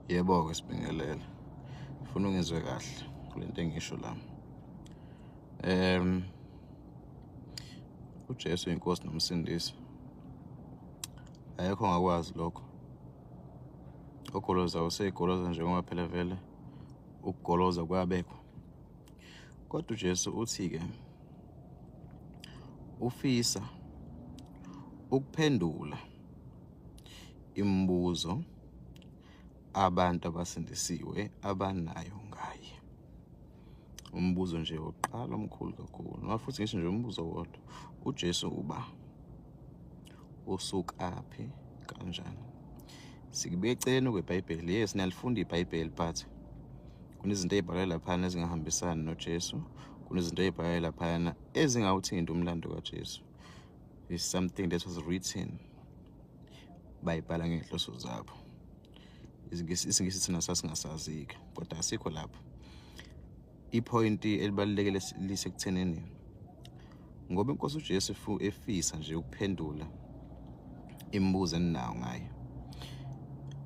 Yebo-ke sibingelele. Ngifuna ungizwe kahle kule nto engisho la. Em uJesu inkosi nomsindisi. Ayekho ngakwazi lokho. Ogoloza usegoloza njengoba phela vele ukugoloza kuyabekwa. Kodwa uJesu uthi-ke ufisa ukuphendula imibuzo abantu abasindisiwe abanayo ngaye umbuzo nje wokuqala omkhulu kakhulu noma futhi ngisho nje umbuzo wodwa uJesu uba usukaphi kanjani sikubeka eceleni kweBhayibheli yes niyalifunda iBhayibheli but kunezinto ezibhalwe laphana ezingahambisani noJesu kunezinto ezibhalwe laphana ezingawuthinta umlando kaJesu is something that was written bayibhala ngenhloso zabo isingisi thina sasingasazika kodwa asikho lapho ipoint elibalulekile lisekuthenini ngoba inkosi uJesu efisa nje ukuphendula imibuzo eninawo ngayo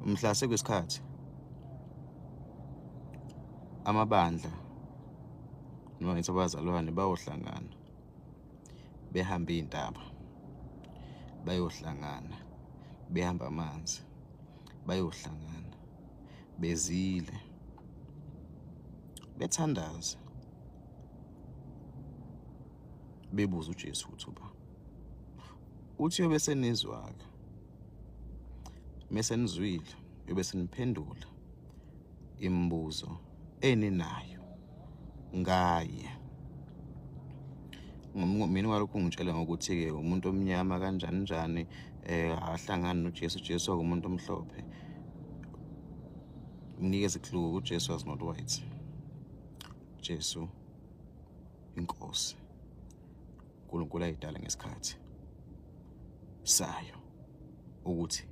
mhla sekwesikhathi amabandla noma ngithi abazalwane bayohlangana behambe iy'ntaba bayohlangana behamba amanzi bayohlangana bezile bethandaza bebuza uJesu ukuthi uba uthi yobe senizwaka mesenizwile yobe seniphendula imibuzo eninayo ngaye mina walokhu ungitshela ngokuthi-ke umuntu omnyama kanjani njani um ahlangani nojesu ujesu akumuntu omhlophe mnikeze clue ujesu was not white jesu inkosi uNkulunkulu ayidala ngesikhathi sayo ukuthi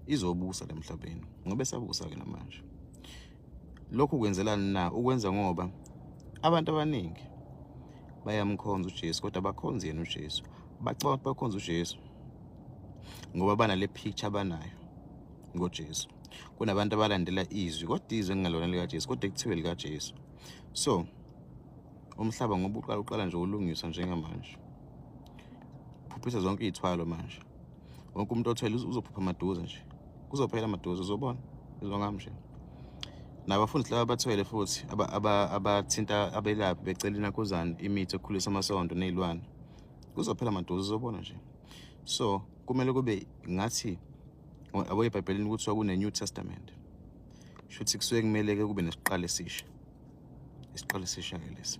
izobusa lemhlabeni ngoba esabusa ke namanje lokhu kwenzelani na ukwenza ngoba abantu abaningi bayamkhonza uJesu kodwa bakhonza yena uJesu bacabanga ukuthi bakhonza uJesu ngoba banale picture abanayo ngoJesu kunabantu abalandela izwi kodwa izwi engingalona likaJesu kodwa kuthiwe likaJesu so umhlaba ngoba uqala uqala nje ulungiswa njengamanje phuphisa zonke iy'thwalo manje wonke umuntu othwele uzophupha maduze nje kuzophela maduze uzobona izongami nje nabafundi laba abathwele futhi abathinta abelaphi becela inakuzane imithi ekhulisa amasondo ney'lwane kuzophela maduze uzobona nje so kumele kube ngathi aboyebhayibhelini kuthiwa kune-new testament shuthi kusuke kumele-ke kube nesiqalo esisha isiqalo esisha-ke lesi